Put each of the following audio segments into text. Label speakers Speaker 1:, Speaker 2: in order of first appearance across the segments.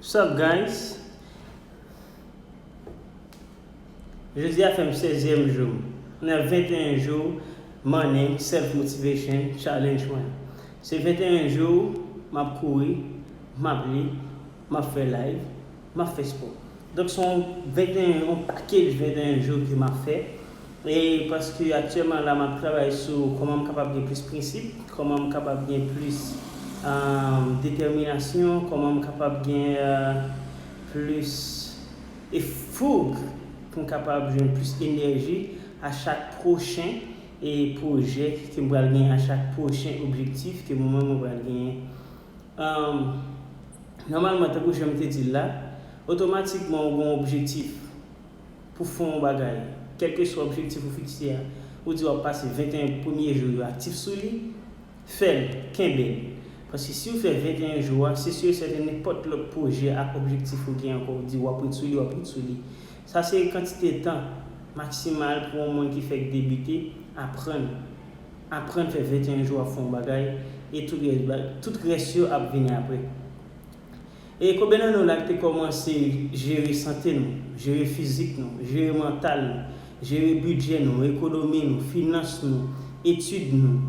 Speaker 1: Sup guys Jodia fè m 16 yèm jou m nan 21 jou morning self motivation challenge mwen se 21 jou map kouri map li map fè live map fè sport donk son 21 yon pakej 21 jou ke map fè. E paske aktyèman la map travay sou kòman m kapab gen plis prensip, kòman m kapab gen plis detèminasyon, kòman m kapab gen plis e foug pou m kapab jwenn plis enèji a chak pwochen e pwojè ke m pral gen, a chak pwochen objektif ke mwen menm mwen pral genyen. Nòmalman tankou jan m te di l la, otomatikman ou gen yon objektif. pou fon yon bagay, kèlkeswa objektif ou fikse a, ou di w ap pase 21 premye jou yo aktif sou li, fè l, kenbe l. Paske si ou fè 21 jou a, se si e sèten nenpòt lòt pwojè ak objektif ou gen ankò ou di w ap ret sou li, w ap ret sou li. Sa se kantite tan maksimal pou yon moun ki fèk debite aprann. Aprann fè 21 jou ap fè yon bagay e tout rès yo ap vini apre. E konbyen nan nou la ki te kòmanse jere sante nou, jere fizik nou, jere mantal nou, jere bidjè nou, ekonomi nou, finans nou, etid nou,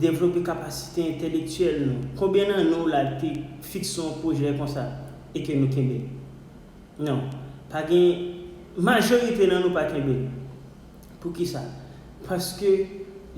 Speaker 1: devlope kapasite entelektyèl nou? Konbyen nan nou la ki te fikse yon pwojè konsa e ke nou kenbe l? Non. Pa gen, majorite nan nou pa kenbe l. Poukisa? Paske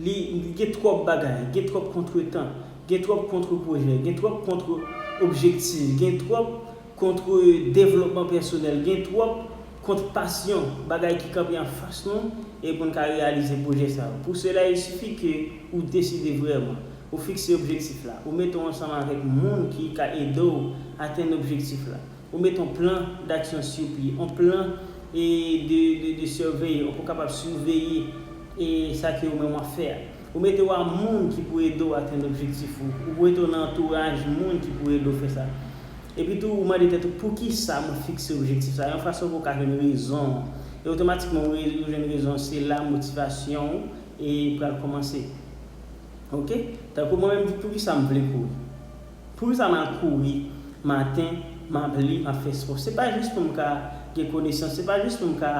Speaker 1: li gen twòp bagay, gen twòp kontretan, gen twòp kontre pwojè, gen twòp kontre objektif, gen twòp kontre devlopman pèsonèl, gen twòp kontre pasyon, bagay ki kanpe anfas nou e pou n ka reyalize pwojè sa yo. Pou sela il sifi ke ou deside vrèman, ou fikse objektif la, ou mete w ansanm avèk moun ki ka ede w atenn objektif la. Ou met on plan d'action sur pye, on plan de surveiller, ou pou kapab siveye sa ke ou menm wap fè a. Ou mete ou a moun ki pou ede ou atenn objektif ou. Ou pou mete ou nan antouraj moun ki pou ede ou fè sa. Epi tou ou mande tèt ou poukisa mwen fikse objektif sa? Yon fason pou ou ka jwenn rezon an. E otomatikman ou jwenn rezon an, se la motivasyon ou pral kòmanse. Ok? Tankou mwen menm, poukisa m vle kouri? Poukisa map kouri maten map li map fè spò se pa jis poum ka gen konesans se pa jis poum ka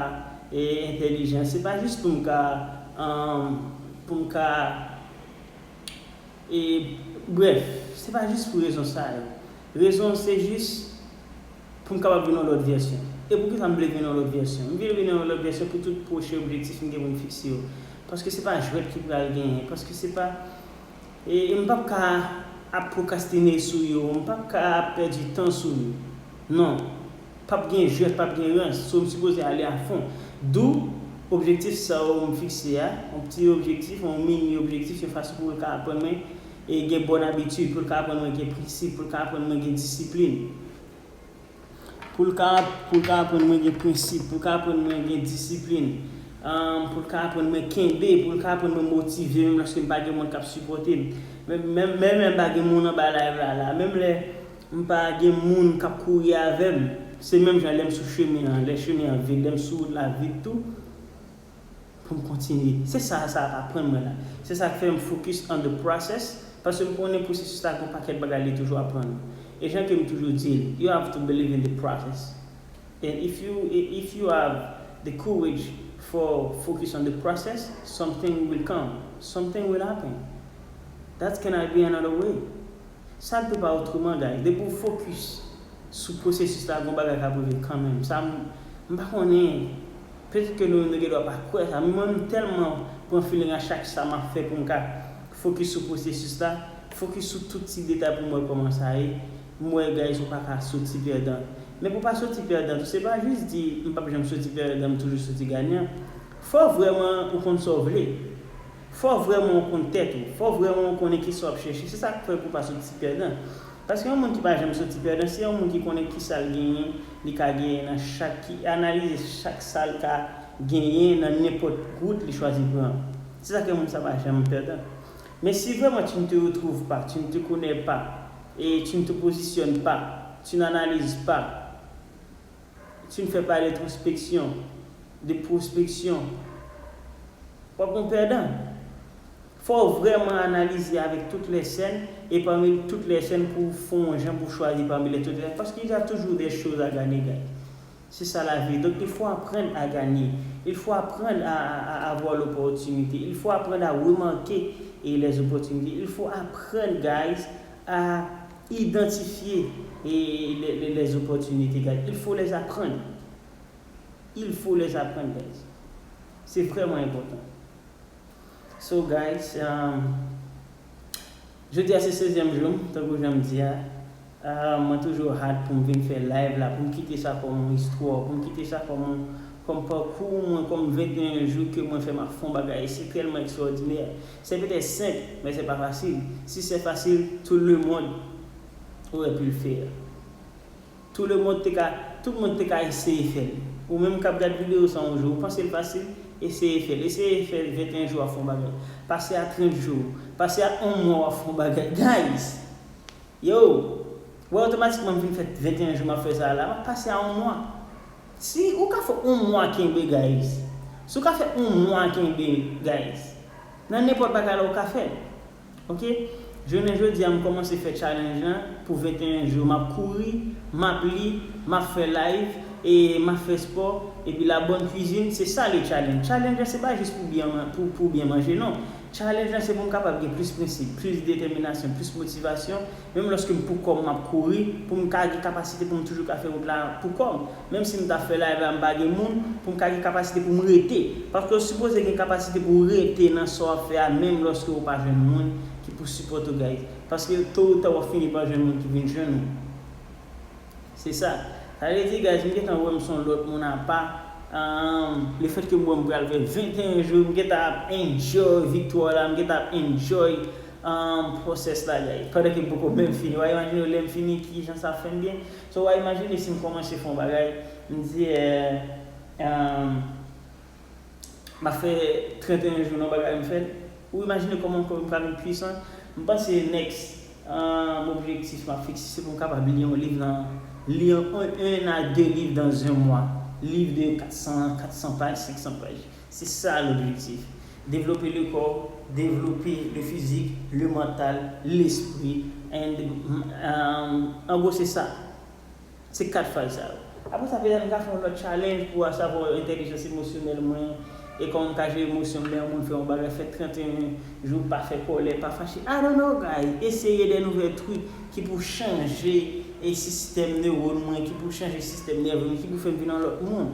Speaker 1: entèlijan se pa jis poum ka poum ka brèf se pa jis pou rezon sa yo rezon se jis poum kapab vin yon lòt vèsyon e poukisa m vle vin yon lòt vèsyon m vle vin yon lòt vèsyon pou tout pwochen objektif m gen poum fikse yo paske se pa jwèt ki pral genyen paske se pa E m pap ka ap pwokrastine sou yo, m pap ka ap pèdi tan sou yo. Non. Pap gen jwèt, pap gen rans. So m sipoze ale a fon. Dou, objektif sa yo m fikse a, yon pti objektif, yon mini objektif, yon fason pou l ka aprann mwen gen bòn abitid, pou l ka aprann mwen gen prensip, pou l ka aprann mwen gen disiplin. Pou l ka pou l ka aprann mwen gen prensip, pou l ka aprann mwen gen disiplin, pou l ka aprann mwen kenbe, pou l ka aprann mwen motive menm lòske m pa gen moun k ap sipòte m. Menm menm lè m pa gen moun anba live la la, menm lè m pa gen moun k ap kouri avè m, se menm jan lè m sou chemen an, lè chemen an vid, lè m sou wout la vid tou, pou m kontinye. Se sa sa ap aprann mwen la. Se sa k fè m focus on the process, paske m konnen pwosesis la gen yon pakèt bagay li toujou aprann ou. E jan ke m toujou di l, you have to believe in the process. And if you if you have the courage for focus on the process, something will come, something will happen. That cannot be another way. Sa dwe pa otreman guys. Depi w focus sou pwosesis la, gon bagay k ap rive kanmenm. Sa m pa konnen Petet ke nou gen dwa pa kwè sa, men mwen menm tèlman pran feeling a chak sa map fè pou m ka focus sou processus la, focus sou tout ti detay pou m wè koman sa ye, m wè guys ou pa ka soti pèdan. Men pou pa soti pèdan tou se pa jis di m pap janm soti pèdan m toujou soti ganyan. Fò vrèman ou konn sa w vle. Fò vrèman w konn tèt ou. Fò vrèman w konnen kisa w ap chèche. Se sa k fè pou w pa sot ti pèdan. Paske yon moun ki pa janm sot ti pèdan, se yon moun ki konnen kisa l genyen, li ka genyen nan chak, ki analize chak sa l ka genyen nan nenpòt wout li chwazi pran. Se sa k fè moun sa pa janm pèdan. Men si vrèman tu ne te retrouves pas, tu ne te connais pas, et tu ne te positionnes pas, tu n'analyses pas, Si n fè pale trospeksyon de pwospeksyon, w ap yon pèdan. Fò w vrèman analize avèk tout lè sèn e pami tout lè sèn pou w fon yon jan pou w chwazi pami lè tout lè paske il y a toujours des choses à gagner guys. Se sa la vie donc il faut apprendre à gagner, il faut apprendre à à avoir l'opportunité, il faut apprendre à remarquer les opportunités, il faut apprendre guys à. Identifier les opportunités guys il faut les apprendre il faut les apprendre guys c'est vraiment important so guys jodi a se 16 ème jour m tankou jan m di a mwen toujou hâte pou m vin fè live la pou m kite sa kòm yon histoire pou m kite sa kòm kòm parcours mwen kòm 21 jours ke mwen fè map fè yon bagay si tèlman extraordinaire Se petè senp, men se pa fasil. Si se fasil, tout le mond aurait pu le faire. Tout le mond te ka, tout moun te ka eseye fè l. Ou menm k ap gad videyo sa yon jou, ou panse l fasil? Eseye fè l. Eseye fè 21 jou w ap fè yon bagay. Pase a 30 jou. Pase a yon mwa w ap fè yon bagay. Guys! Yo! Wè otomatikman m fin fè 21 jou m ap fè sa a la. M ap pase a yon mwa. Si ou ka fè on mwa kenbe guys. Si ou ka fè on mwa kenbe guys. Nan nenpòt bagay la ou ka fèl ok jounen jodia m kòmanse fè challenge lan pou 21 jou map kouri map li map fè live e map fè spò epi la bonne cuisine se sa le challenge challenge lan se pa jis pou byen pou byen manje non challenge lan se pou m kapab gen plis prensip plis detèminasyon plis motivasyon Menm lòske m poukò m m ap kouri pou m ka gen kapasite pou m toujou ka fè wout la poukò m. Menm si m ta fè live la m pa gen moun, pou m ka gen kapasite pou m rete. Paske ou sipoze gen kapasite pou w rete nan sa w ap fè a menm lòske ou pa jwenn moun ki pou sipòte w guys. Paske to ou ta w ap fini pa jwenn moun ki vin jwenn ou. Se sa. Sa vle di guys m gentan wè m s on lòt moun apa aahmm. Le fèt ke m wè m pral fè 21 jou m gentan ap enjoy viktwa w la, m gentan ap enjoy. Aahh process la gay. Pandan ke m poko menm fini. Wa imajine w lèm fini kijan sa ap fèm byen. So wa imajine si m kòmanse fè yon bagay, m di eh aahh m ap fè 31 jou nan yon bagay m fè l. Ou imajine kòman kò m ka vin pwisan. M panse next aahh objektif m ap fikse se pou m kapab li yon liv nan li yon 1 a 2 liv dans un mois. Liv de 400 400 paj 500 paj. Se sa l'objectif. Devlope le kò, devlope le fizik, le mantal, lespri and en gros se sa. Se 4 faz sa yo. Apre sa petèt m ka fè yon lòt challenge pou a savo entèlijans emosyonèl mwen e kòman m ka jere emosyon m lè yon moun fè yon bagay, fè 31 jou pa fè kòlè, pa fache. I don't know guys. Eseye de nouvèl truc ki pou chanje e sistèm neurone mwen, ki pou chanje sistèm nève mwen, ki pou fè m vin yon lòt moun.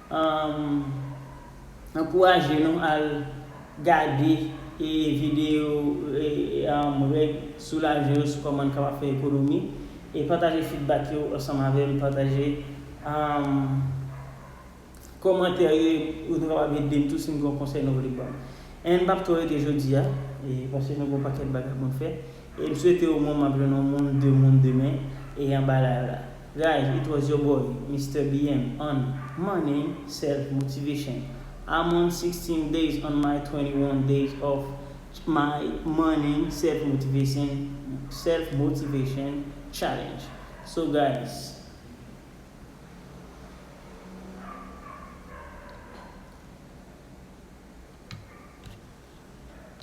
Speaker 1: M ankouraje nou al gade videyo Règ soulaje yo sou kòman n kapab fè ekonomi e pataje fidbak yo ansanm avè m. Pataje kòmantè yo epi nou kapab ede m tou si n gen yon konsèy nou vle ban m. N p ap twò rete jodi a paske nou gen yon pakèt bagay pou n fè e m swete omwen m ap jwenn yon moun, de moun demen e anba layw la. Guys it was your boy Mister BM on money self motivation I'm on sixteen days on my twenty one days of my money self motivation self motivation challenge so guys